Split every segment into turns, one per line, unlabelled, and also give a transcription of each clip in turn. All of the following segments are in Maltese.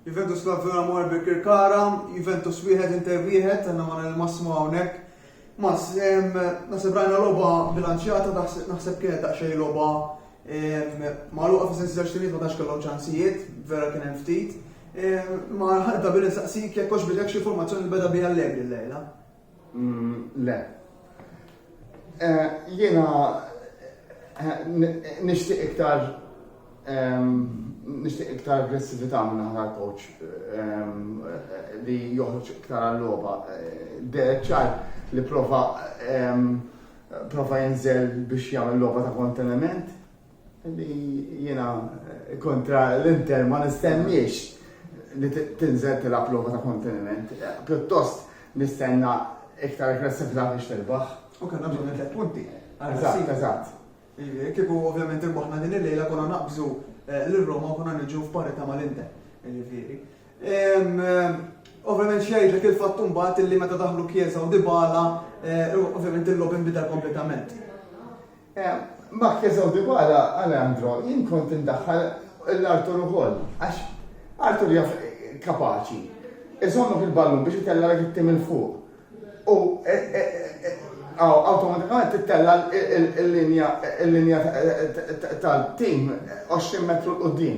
Juventus Lazzura Mor Birkirkara, Juventus wieħed Inter wieħed, għandna ma il-massimo hawnhekk. Mas, naħseb rajna logħba bilanċjata, naħseb kienet daqsxejn logħba magħluqa fi sensi tax ma tax kellhom ċansijiet, vera kien hemm ftit. Ma ħadda bil-insaqsik jekk hux bidek xi formazzjoni beda bija l-lejla. Mm,
le. Eh, jiena eh, nixtieq iktar ehm, nixtieq iktar aggressività minn aħna coach ehm, eh, li joħroġ iktar għall-logħba. Derek ċar li prova ehm, prova jinżel biex jagħmel logħba ta' konteniment Li jiena kontra l-Inter ma nistenniex li tinżel tilgħab logħba ta' konteniment. Pjuttost nistenna iktar aggressività biex tirbaħ. U kellna bżonn it-tliet
punti. Eżatt, eżatt.
Kieku
ovvjament irbaħna din il-lejla konna naqbżu eh, lil Roma u konna niġu f'parità mal-Inter. Ġifieri. Ovvjament xejdlek il-fatt mbagħad illi meta daħlu Kiesa u Dybala, eh, ovvjament il-logħob inbidel kompletament.
Mark teżgħu dwara, Alejandro, jien kont indaħħal lil Arthur ukoll, għax Arthur jaf kapaċi iżommok il-ballun biex itellgħalek it-tim 'il fuq u awtomatikament tittella' l-linja tal-tim 20 metru 'l quddiem.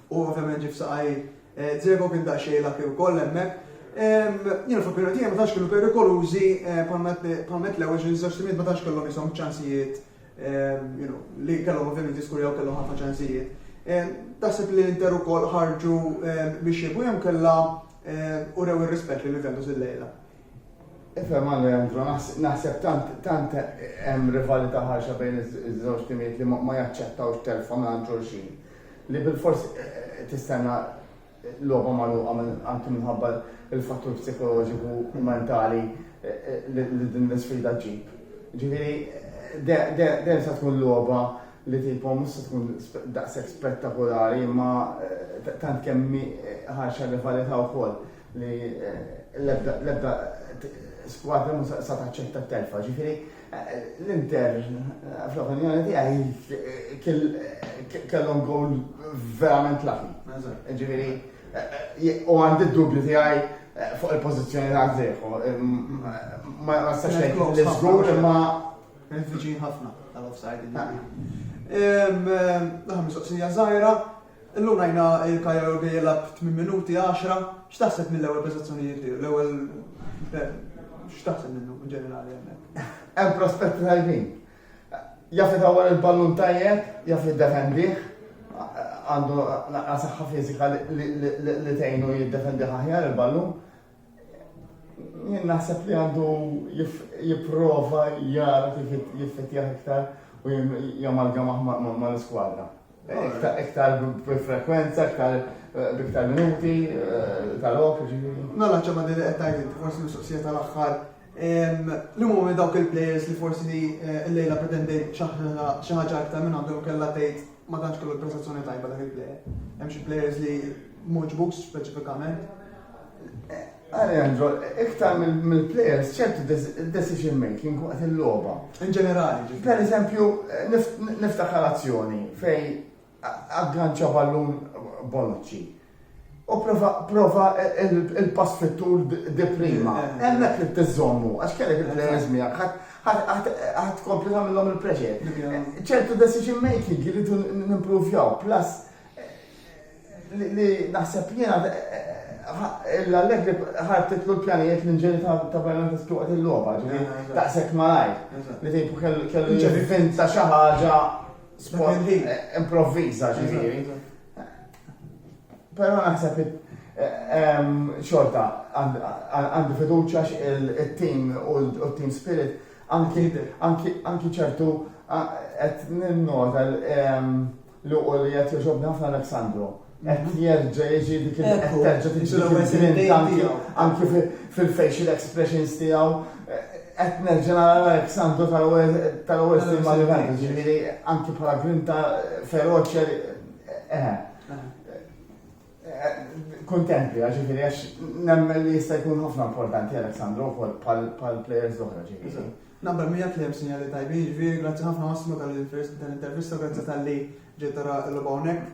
U ovvjament ġie f'saqajh Dzeko kien daqsxejn lucky wkoll hemmhekk. Jiena fl-opinjoni tiegħi ma tantx kienu perikolużi bħalma qed l-ewwel xi żewġ timijiet ma tantx kellhom ishom ċansijiet you know li kellhom ovvjament jiskurjaw kellhom ħafna ċansijiet. Taħseb li l-Inter ukoll ħarġu biex jibgħu jew inkella urew ir-rispett lil Juventus illejla? Ifhem
Alejandro, naħseb tant hemm rivalità ħarxa bejn iż-żewġ timijiet li ma jaċċettawx telfa mingħand xulxin. li bilfors tistenna logħba magħluqa anki minħabba l-fattur psikoloġiku u mentali li din l-isfida ġġib. Ġifieri, dejjem se tkun logħba li tipo mhux se tkun daqshekk spettakolari imma eh, tant kemm eh, ħarxa rivalità wkoll li eh, l-ebda skwadra mhux se taċċetta t-telfa. Ġifieri L-Inter, fl-opinjoni tiegħi, kellhom gowl verament laħi. Ġifieri, u għandi d-dubju tiegħi fuq il-pożizzjoni ta' Zeħu. Ma nistax ngħid li żgur imma viċin ħafna tal-offside.
Daħam mistoqsija żgħira, Illum rajna il-Cagliari Olga jilgħab 8 minuti, 10, x'taħseb mill-ewwel prestazzjonijiet tiegħu? L-ewwel x'taħseb minnu ġenerali hemmhekk? Hemm prospetti
tajbin. Jaf itawwal il-ballun tajjeb, jaf jiddefendih, għandu naqra saħħa fiżika li tgħinu jiddefendi aħjar il-ballun. Jien naħseb li għandu jipprova jara kif jiffettjah iktar u jamalgamah mal-iskwadra. Iktar b'frekwenza, iktar eh, b'iktar minuti eh, tal-ok. Mela ċemma li qed tgħid
forsi mistoqsija tal-aħħar Liema huma dawk il-players li forsi li llejla pretendejt xi ħaġa aktar minn għandhom kellha tgħid ma tantx kellu prestazzjoni tajba dak il-player. Hemm xi players li moġbux speċifikament.
Alejandro, iktar mill-players ċertu decision making waqt il-logħba. In ġenerali.
Per eżempju,
niftakar azzjoni fej Agganċa ballun Bonucci u prova prova il-pass fit-tul di prima. Hemmhekk li tiżommu għax kellek il-players miegħek ħadd tkompli tagħmilhom il-pressure. Ċertu decision making jridu nimpruvjaw plus li naħseb jiena l-Allegri ħartitlu l-pjanijiet l-inġeri ta' Bernardes tuqgħod il-logħba, ġifieri taqsek malajr. Li tgħidu kellu jivvinta xi ħaġa Improvviza ġifieri. Però naħseb xorta għandi fiduċa il-team u l-team spirit anki ċertu qed ninnota li u li qed joġobni ħafna Aleksandru. Qed jerġa' jiġi dik il- qed terġa' tiġi dik il-grinta anki- anki fi- fil-facial expressions tiegħu. Qed nerġa' nara Alexandru tal-ewwel tal-ewwel snin ma' Juventus, jiġifieri anki bħala grinta feroċi għal eħe. Kuntent biha, ġifieri għax nemmen li jista' jkun ħafna importanti Alexandru wkoll bħal bħal players l-oħra ġifieri. Eżatt. Naqbel miegħek li hemm
sinjali tajbin, jiġifieri grazzi ħafna Massimo tal-intervista, grazzi talli ġejt tara l-logħba hawnhekk.